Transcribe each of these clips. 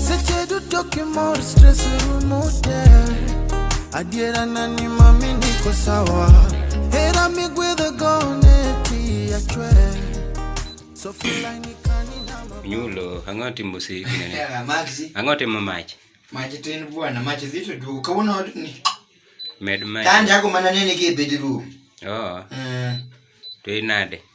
Seche duto kimor stress rumo te Adiera na ni mami niko sawa Hera migwedho go ne ti achwe So feel I need Nyulo, ang'o timo si kinene? Yeah, Maxi. Ang'o timo mach? Mach tin bwana, mach zito du. Kawuono od ni. Med mach. Tan jago mana nene ki e bedroom. Oh. Mm. To inade?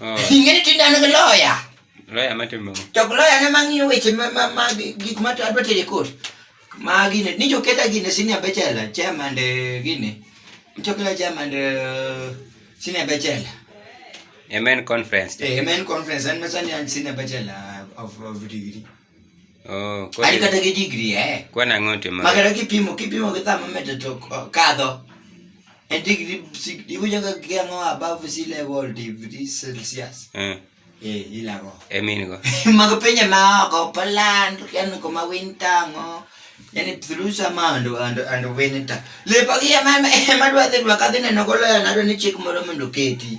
Oh. Ing'eni to inano gi loya. Loya matimo. To loya ne mang'iyo weche ma ma ma gik ma adwa tere kot. Ma gine ni jo keta gine senior bechela chairman de gine. Chokla chairman de senior bechela. Amen conference. Amen conference and masani senior bechela of of degree. Oh, kwani kata gi degree eh. Kwani ang'o timo? Magara kipimo kipimo gi thama medo to kadho. En degree iwinjo ka kiang'o above sea level degree Celsius. Eh. Eh, ilago. E min go. Mag pinje ma oko Poland, yani kuma winter ngo. Yani through summer and and and winter. Lepo gi ema ema dwa dhi dwa kadhi neno golo na dwa ni chik moro mondo keti.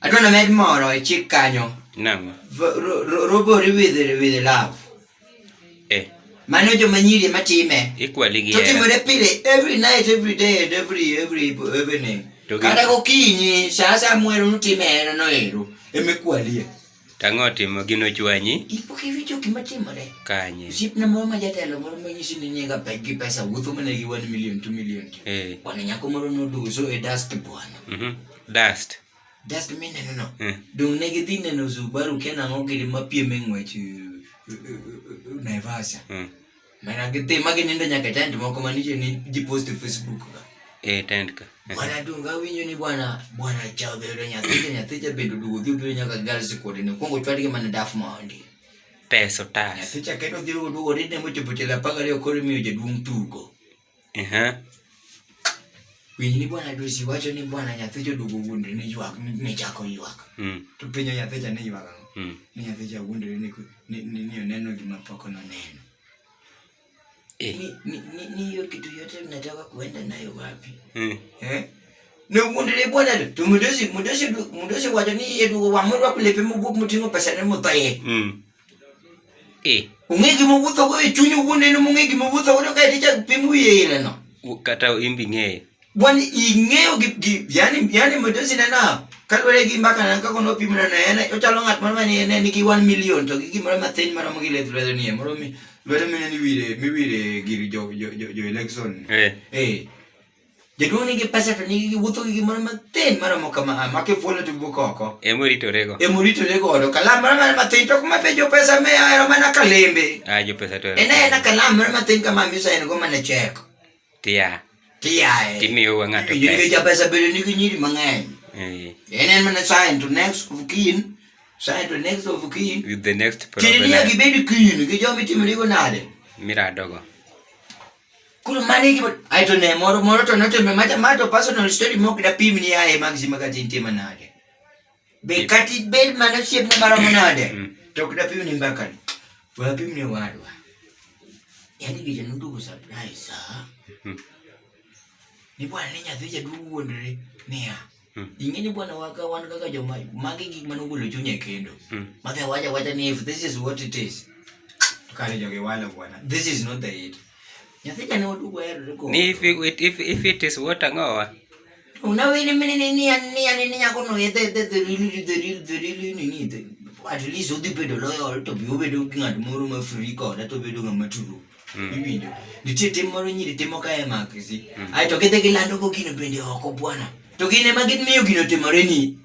Adwa na med moro e chik kanyo. Naam. V- ro- ro- Robori with with love. Eh, Mano joma nyiri ema time. ikwali gi To hera. timore pile every night every day and every every evening. To gi- Kata gokinyi saa saa mwero nutime hera no ero. Emekwalie. Tang'o otimo gino chwanyi. Ipok iwinjo gima timore. Kanye. Osiepna moro ma jatelo moro ma nyisi ni nyinga pek gi pesa wuotho mana gi 1 million 2 million. Eh. Wana nyako moro noduso e dust bwana. Mhm. Dust. Dust mineno no. Eh. Dong ne gidhi neno Subaru kena ng'o gidi mapiem e ng'wech eh, eh, eh, Naivasha. Mm. Mana gidhi ma ginindo nyaka e tent moko manitie ni ji post e Facebook ka. Eh, tent ka. Bwana Dunga awinjo ni bwana bwana chao dhi yudo nyathi to nyathi cha bedo duogo dhi obiro nyaka girls kuonde ni kwongo chwadgi mana daf mondi. Pesa otas. Nyathi cha kendo dhi duogo duogo ni ne mochopo tielo apar gariyo koro imiyo jaduong' tugo. Ehe. Winj ni bwana Dusi wacho ni bwana nyathicho duogo wuondre ni ywak ni chako ywak. Mm. To penjo nyathicha ni ywak ang'o? Mm. Ni nyathicha wuondre ni ku- ni ni ni oneno gima pok noneno. Eh. Ni ni ni- ni hiyo kitu yote mnataka kuenda nayo wapi? Eh. Eh? Ne wuondre bwana do. To mudosi mudosi du- mudosi wacho ni yeduogo wamorwa kulepe mubuk muting'o pesa ne muthoye. Mm. eh. ong'e gima owuotho go e chuny owuon en mong'e gima owuotho godo kae tichak pim wiye ileno kata imbi ng'eyo wan ing'eyo gi yani yani modosi nena kaluwore gi mbaka nan kako nopim nana en ochalo ng'at moro mani ne nigi 1 million to gi gimoro mathin maromo gi lith lwedo nie moro mi lwedo mine niwire miwire gir jo jo jo election eh eh Jaduong' nigi pesa to nigi giwuotho gi gimoro matin maromo kama ma kifuolo to wuok oko. Ema oritorego. Ema oritore godo. Kalam moro mana matin to kuma penjo pesa me ahero mana kalembe. Ah, jo pesa to. En aena kalam moro matin kama misa en go mana cheko. Tia. Tiae. Timiyo wa ng'ato Nyiri pesa. ja pesa bende nigi nyiri mang'eny. Eh, En en mana sign to next of kin. Sign to next of kin. With the next Tini niya problem. gibedi kin gi joma itimorigo nade? Miradogo. Kulo mane iki aito ne moro moro to noto me mata mato personal story mok da pim ni ae magzi magati inti manade. Be kati be mana shep na mara manade. Mm. To kuda pim ni mbaka. Wa pim ni wadwa. Yani gije nundu ku surprise ha. Mm. Ni bwana ni nyathi jadugu wondre niya. Hmm. Ing'e ni bwana waka wan kaka joma magi gik mane ogolo chunya e kendo. Hmm. Madhe wacha wacha ni if this is what it is. Tukare joge wala bwana. This is not the it. Nyathi jane odugo erore ko. Ni if it, if if it is what angowa. Una wini mini ni ni ni ni ni yako no yete yete the real the real the real ni ni the. At least odi pedo loyal to bi obedo ng'at moro ma free koda to bedo ng'ama true. Mm. Iwinjo. Nitie tim moro nyiri timo ka e makisi. Mm. Ai to gidhi gilando go gino bende oko bwana. To gine ma gimiyo gino timore ni.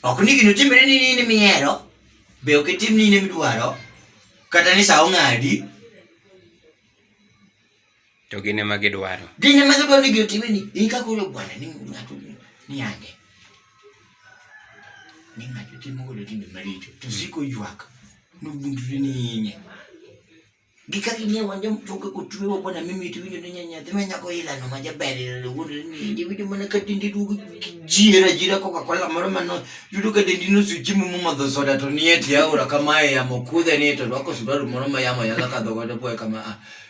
Ok ni gino timore ni nini mihero. Be ok itim nini midwaro. Kata ni sa ong'adi. To gin ema gidwaro. Gin ema gidwaro ni gitime ni in ka koro bwana ni ng'ato ni ande. Ni ng'ato timo godo timbe maricho to siko ywak nobundre ni inye. Gi kaka ing'e wanja mtoke kochwewa bwana mimi itiwinjo ni nyanyathi ma nyako ilano ma jaber ilalo wuondo ni indi winjo mana ka dendi duogo jiera jiera koka kola moro mano yudo ka dendi nosuchiemo momadho soda to nie tie aora kamae yamo kudhe ni to rwako suruaru moro ma yamo yala kadho godo boye kama ah.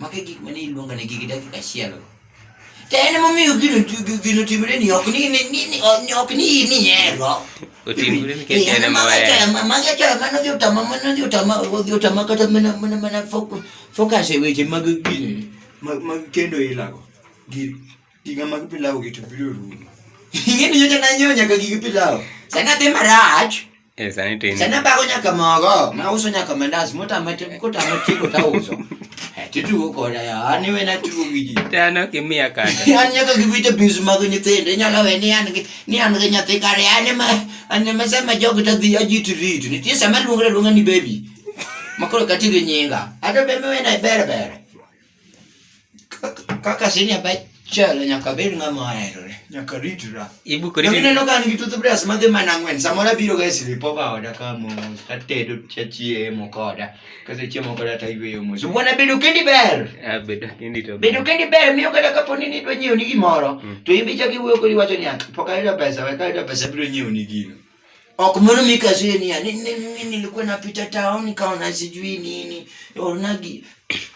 Magi gik mane iluonga ne gigi dakika achiel. To en momiyo gino gino timre ni ok ni ni ni ok ni ni hero. Otimre ni kete na mawaya. Magi achoya mano dhi utama mano dhi utama dhi utama kata mana mana mana focus e weche mag gino mag kendo ilago. Gi giga mag pilau gi to biro rumo. Ing'e ni nyocha nanyonya ka gigi pilau. Sana dhi marach. Eh, sani to in. Sana bago nyaka mogo, ma uso nyaka mandas, mota mate kota mate kota uso. Eh, titu ko da ya, ani we na tu gidi. Tano kimia kata. An nyaka givita bizu mago nyithindo, inyalo we ni an gi ni an gi nyathi kare, ani ma ani ma sama jogo ta dhi ajitu ritu. Nitie sama luongra luonga ni baby. Makoro kati gi nyinga. Ata bebe we na bere bere. Kaka sini apa chalo nyaka bed ng'ama oherore, nyaka ritura. Ibu kodi. Kendo ineno ka an gi toothbrush madhi mana ang'wen, samoro abiro ga e sleepover oda ka mos, atedo chachiemo koda, kasechiemo koda to ayweyo mos. Wuon abedo kendi ber. Ah, bedo kendi to. Bedo kendi ber miyo kata kapo ni nidwa nyiewo ni gimoro, mm. to in bichak iwuoyo kodi iwacho niya, pok ayudo pesa, we kayudo pesa abiro nyiewo ni gino. Okumuru mikasue ni ani nini nilikuwa napita town nikaona sijui nini. Onagi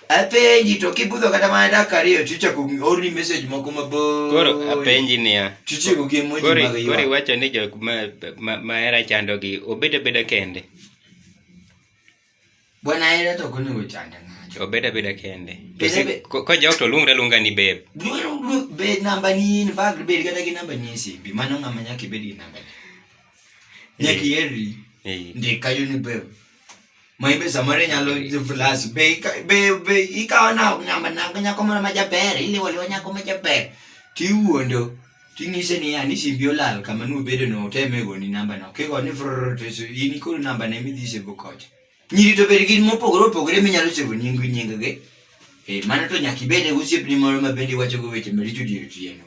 apenji to kibudho kata mana dakika ariyo chicha kuorni message moko maboyo. Koro apenji niya. Chicha kugie moji mag ywa. Koro iwacho ni jok ma ma, ma era chandogi obed abeda kende. Bwana hela to kuni uchanda nacho. Obeda beda kende. Kwa jao to lunga lunga ni beb. Lunga be namba ni in fact bed kata ki namba ni simbi. Mano ngama nyaki bed ki namba. Nyaki yeri. Ndi kayo ni beb. Maibe samare nyalo flash be be be ikawa na ngama na nyako mara majaber ili wali wanyako majaber. Tiwuondo. Ting'ise niya ni simbi olal kama nubedo no oteme goni namba no. Kigo ni frrrr to isu- in koro namba ne midhi sebo kocha. Nyiri to bed gin mopogore opogore minyalo sebo nying nying gi. Eh, mano to nyaka ibed e osiepni moro ma bende iwacho go weche maricho dier otieno.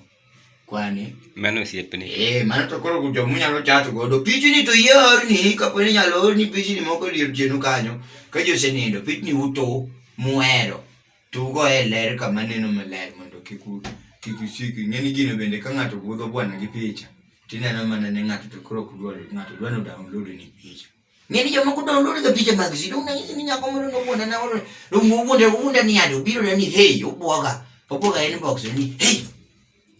Kwani. Mano osiepni. Eh, mano to koro kujo munyalo chato godo. Pichni to yie orni kapo ni nyalo orni pichni moko dier otieno kanyo. Ka ji osenindo, pichni uto muhero. Tugo e ler kama neno maler mondo kik u- kik usik. Ing'eni gino bende ka ng'ato budho bwana gi picha, tineno mana ni ng'ato to koro ok dwar, ng'ato dwar ni download ni picha. Ng'eni jomoko download ga picha mag si, dong' nanyisi ni nyako moro nowuonda na oro, dong' owuonda, owuonda ni ade, obiro na ni hey, obwoga, obwoga inbox ni hey,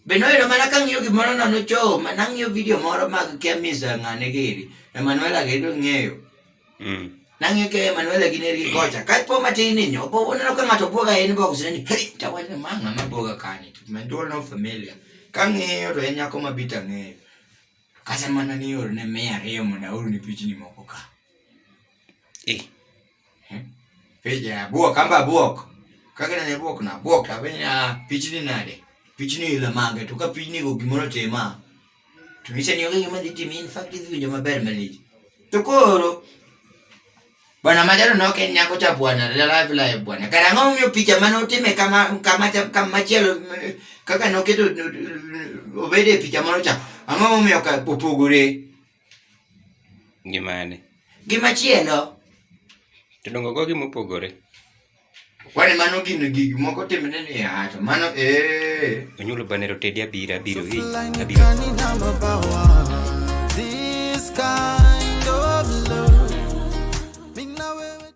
Be noyudo mana ka ng'iyo gimoro nono choo, ma nang'iyo video moro mag kia misa ng'ane gini. Emanuela gi to ng'eyo. Mm. Nang'iyo ke Emanuela gi neri kocha. Ka po matin ni nyo, po uneno ka ng'ato bwoga e inbox ne ni, hey, tawacho ma ng'ama bwoga kani. Ma duol no familia. Ka ng'iyo to en nyako ma bita ng'eyo. Kasa mana ni orne mia ariyo mondo aorni pichni moko ka. Eh. Peja buok amba buok. Kaka ne buok na buok ta benya pichni nade? Pichni ila mange to ka pichni go gimoro tema. To niche ni onge ma diti min fact is winjo maber malich. To koro Bwana Majaro no ken nyako cha bwana la live live bwana. Kara ng'o miyo picha mane otime kama kama kama chielo kaka noketo obede picha moro cha. Ang'o miyo ka opogore? Gi mane? Gi machielo. To dongo go gima opogore. Kwani mano gin gig moko timne ni ato. Mano eh. Onyulo banero tedi abira abiro hi. Abiro. This kind of love.